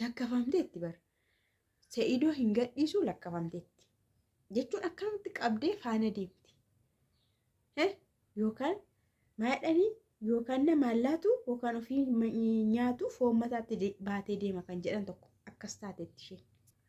Lakkafamteetti bar. Sa'idoo hin gadhiisuu lakkafamteetti. Jechuun akkamitti qabdee faana deemti. Yookaan maadhanii yookaan namaan laatu yookaan ofii nyaatu foon mataatti baatee deema kan jedhan tokko akkas taateetti isheen.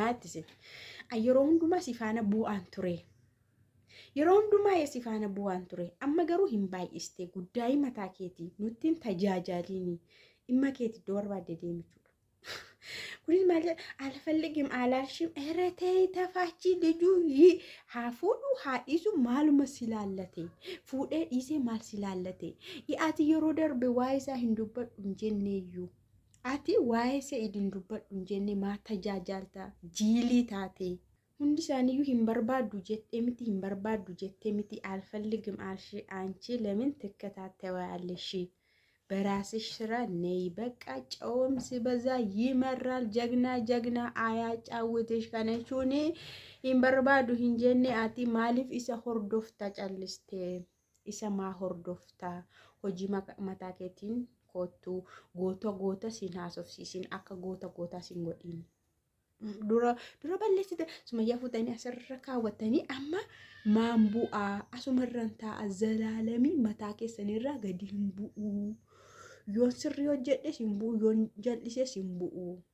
Maatti si yeroo hundumaa si faana bu'aan ture. Yeroo hundumaa si faana bu'aan ture. Amma garuu hin baay'iste guddaa'ii mataa keetii nutti hin tajaajaaliini. Dhimma keeti iddoo barbaadde deemichuudha. Kunis maal jedha? Alfalligim alaalshim eretee tafaachii dijuu haa fuudhu haa dhiisu maaluma si laallate. Fuudhee dhiisee maal si laallate. Ati yeroo darbe waa isaa hin dubbadhu hin jenneeyyuu. Ati waa'ee Sa'id hin dubbadhu hin jenne maa tajaajaalta jiilii taatee. Hundi isaaniyyuu hin barbaaddu jettee miti hin barbaaddu jettee miti alfalligim alshi aanchi lemin tikkataattewaalshi baraasish sira ney baqqaa cawomsi bazaa yimarraal jagnaa jagnaa ayaa caawwitish kana jechuun hin barbaaddu hin jenne ati maaliif isa hordofta callistee. isa maa hordofta hojii mataa keetiin koottu goota goota siin haasofsiisin akka goota gootaa siin godhiin. dura dura balleessite sumayyaa fuutanii asirra kaawwattanii amma maan bu'aa asumarran taa'a zalaalamii mataa keessanirraa gadi hin bu'uu yoon sirrii hojjedhes hin bu'u yoon jal'ises hin bu'u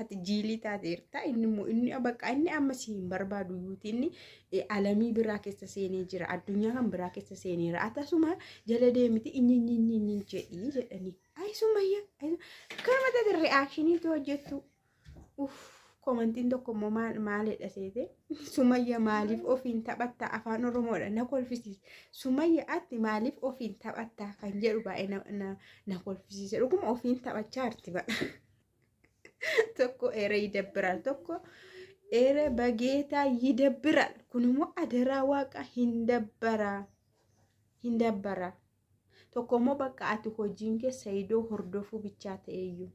ati jiilii taateerta inni immoo inni bakka inni amma si hin barbaadu yuuti inni eh, alamii biraa keessa seenee jira addunyaa kan biraa keessa seeneera akkasuma jala deemiti inni inni inni inni jedhii jedhanii ayisumayya akkama taate re'aakshinii tu hojjettu uff komantiin tokko immoo maal maalidha seete sumayya maaliif ofiin taphatta afaan oromoodha na kolfisiis sumayya atti maaliif ofiin taphatta kan jedhu baay'ee na- na na kolfisiise dhuguma ofiin taphachaa arti baqa tokko eeree yidabbiraal tokko eeree bageetaa yidabbiraal kun immoo adaraa waaqa hin dabbaraa hin dabbaraa tokko immoo bakka ati hojiin kee sayidoo hordofuu bichaa ta'eeyyuu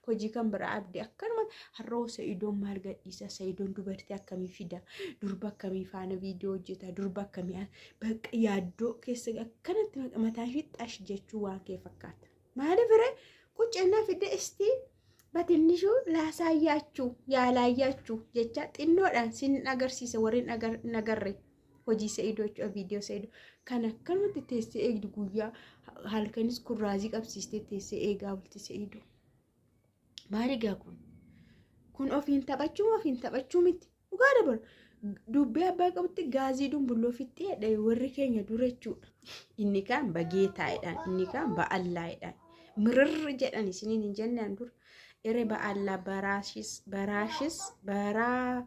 Hojii kan biraa abdi akkanuma har'oo sa'idoon maal gadhiisa sa'idoon dubartii akkamii fida durba akkamii faana viidiyoo hojjeta durba akkamii bakka yaaddoo keessa akkanatti mataa fixxash jechuu waan kee fakkaata. Maali bire qucannaa fidda istii batinnishu laasaa yaachuu yaalaa yaachuu jecha xinnoodhaan sin agarsiisa warri nagarre. hojii sa'idoo jechuudha viidiyoo sa'idoo kan akkanumatti teessee eegdu guyyaa halkanis kun raazii qabsiistee teessee eegaa bulti sa'idoo maaligaa kun kun ofiin taphachuu ofiin taphachuu miti dhugaa dabalu dubbii abbaa qabutti gaazii dumbulloo fixxeedha warri keenya dura jechuudha inni kaan bagee taa'edhaan inni kaan ba'allaa'edhaan mirri jedhan isiniin hin jennaan dura ere ba'allaa baraashis baraashis baraa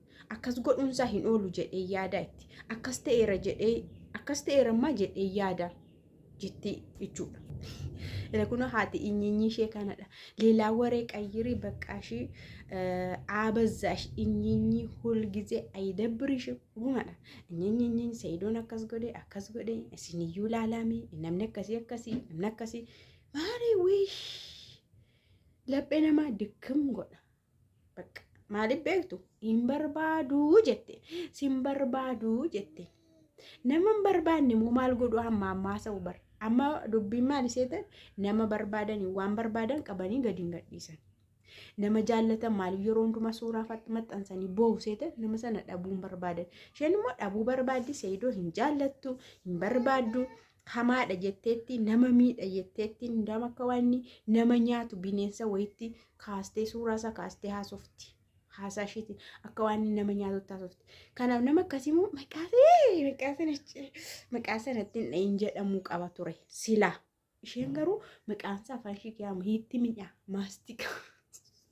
Akkas godhuunsaa hin oolu jedhee yaadaa itti. Akkas ta'eera jedhee akkas ta'eera ammaa jedhee yaada jetti jechuudha. Ila kun haati inyinyii ishee kanadha. Leelaa waree qayyirii baqqaa ishee aabazaash inyinyii hulgizee ayidabbiri ishee uumadha. Inyinyinyiin sayidoon akkas godhe akkas godhe isiniyyuu laalaamee namni akkasii akkasii namni akkasii maarii wiish laphee namaa dikkam godha. Bakka maaliif beektu hin barbaaduu jette sin barbaaduu jette nama hin barbaanne immoo maal godhu amma ammaa sa'u bar amma dubbiin maal isee ta'e nama barbaadanii waan barbaadan qabanii gadi hin gadhiisan nama jaallatan maaliif yeroo hundumaa suuraa fat- maxxansanii boo'u isee ta'e nama sana dhabuu hin barbaadan isheen immoo dhabuu barbaaddi seeyidoo hin jaallattu hin barbaaddu hamaadha jetteetti nama miidha jetteetti hundaam akka waan inni nama nyaatu bineensa wayitti kaastee suuraa isaa kaastee haasofti haasaa ishiiti akka waan inni nama nyaatutti haasofti kanaaf nama akkasii immoo maqaasee maqaasee nacce maqaasee natti hin dhahin jedhamuu qaba ture silaa isheen garuu maqaansaa afaan ishii kiyaamu hiitti miidhaa maastika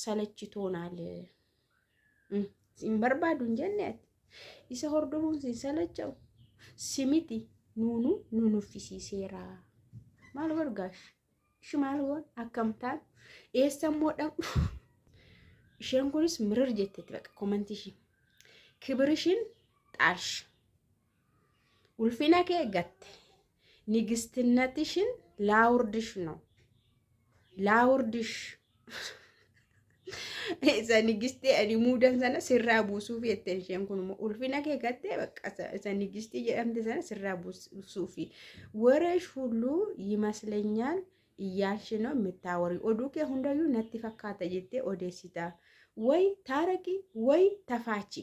salachitoonal hin barbaadu hin jenne ati isa hordofuun sin salacha'u simiti nuunu nu nuffisiiseera maal bargaash ishi maal waan akkamtaan eessa immoo dhaqnu isheen kunis mirir jetteetti baqa komantii ishii kibir ishiin xaash Ulfina kee gatte. Nigistinnatishn laawurdish no. Laawurdish. Isa nigistii ani muudan sana sirraa buusuuf jette isheen kun immoo ulfina kee gattee bakka isa- isa nigistii jedhamte sana sirraa buusuufi. Wareesh hulluu yimaslenyaal iyyaalshi no mittaawarii oduu kee hundayyuu natti fakkaata jettee odeessita. Way taaraqi way tafaachi.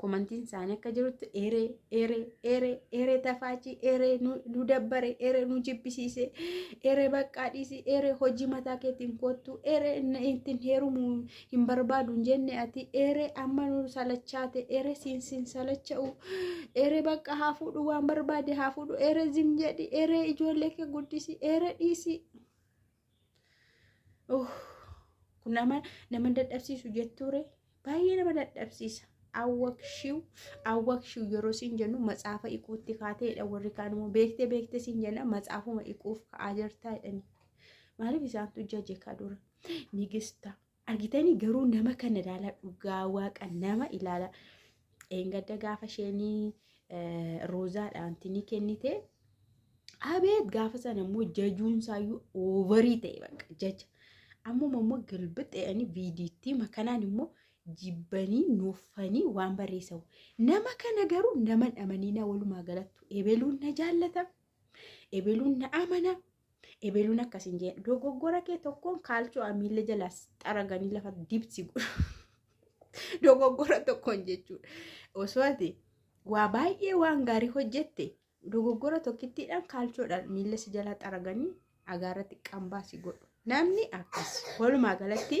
komantiin isaanii akka jirutti eeree eeree eeree eeree tafaachii eeree nu dabbare eeree nu jibbisiise eeree baqqaa dhiisii eeree hojii mataa keetiin koottu eeree ittiin heerumu hin barbaadu hin jenne ati eeree amma nu salachaate eeree siin siin salacha'u eeree bakka haa fuudhu waan barbaade haa fuudhu eeree zim jedhi eeree ijoollee kee guddisi eeree dhiisii. kun nama nama dadhabsiisu jettuure baay'ee nama dadhabsiisa. Awwakshiw awwakshiw yeroo siin jennu matsaafa iquutti kaateedha warri kaan immoo beekte beekte siin jenna matsaafuma iquuf ka'aa jirtaa jedhani. Maaliif isaantu jaje kaa dura nigista Argitanii garuu nama kana ilaala dhugaa waaqa nama ilaala. Eengadda gaafa isheenii roozaadhaan tinii kennite abeet gaafa sana immoo jajuun isaayyuu oovarii ta'e bakka jaja. Ammuma immoo galbixe'anii viidiittii makanaan immoo jibbanii nuuffanii waan barreessan. Nama kana garuu nama dhamaniinaa walumaa galattu ebeluun na jaallata. Ebeluun na amana. Ebeluun akkas hin jeen. Dogoggora kee tokkoon kaalchoo amiilla jalaas xaraganii lafa dibsi godhu. Dogoggora tokkoon jechuudha. Osoo ati waa baay'ee waan gaarii hojjette dogoggora tokkittiidhaan kaalchoodhaan miilla si jalaa xaraganii agaarratti qambaa si godhu. Namni akkas walumaa galatti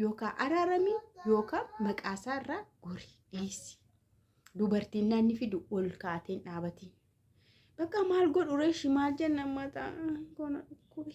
Yookaa araarami yookaa maqaa isaa irraa gori dhiisi. Dubartiin naanni fidu ol kaateen dhaabatiin. Bakka maal godhu reeshi maal jenna mataa koona dhukkubi.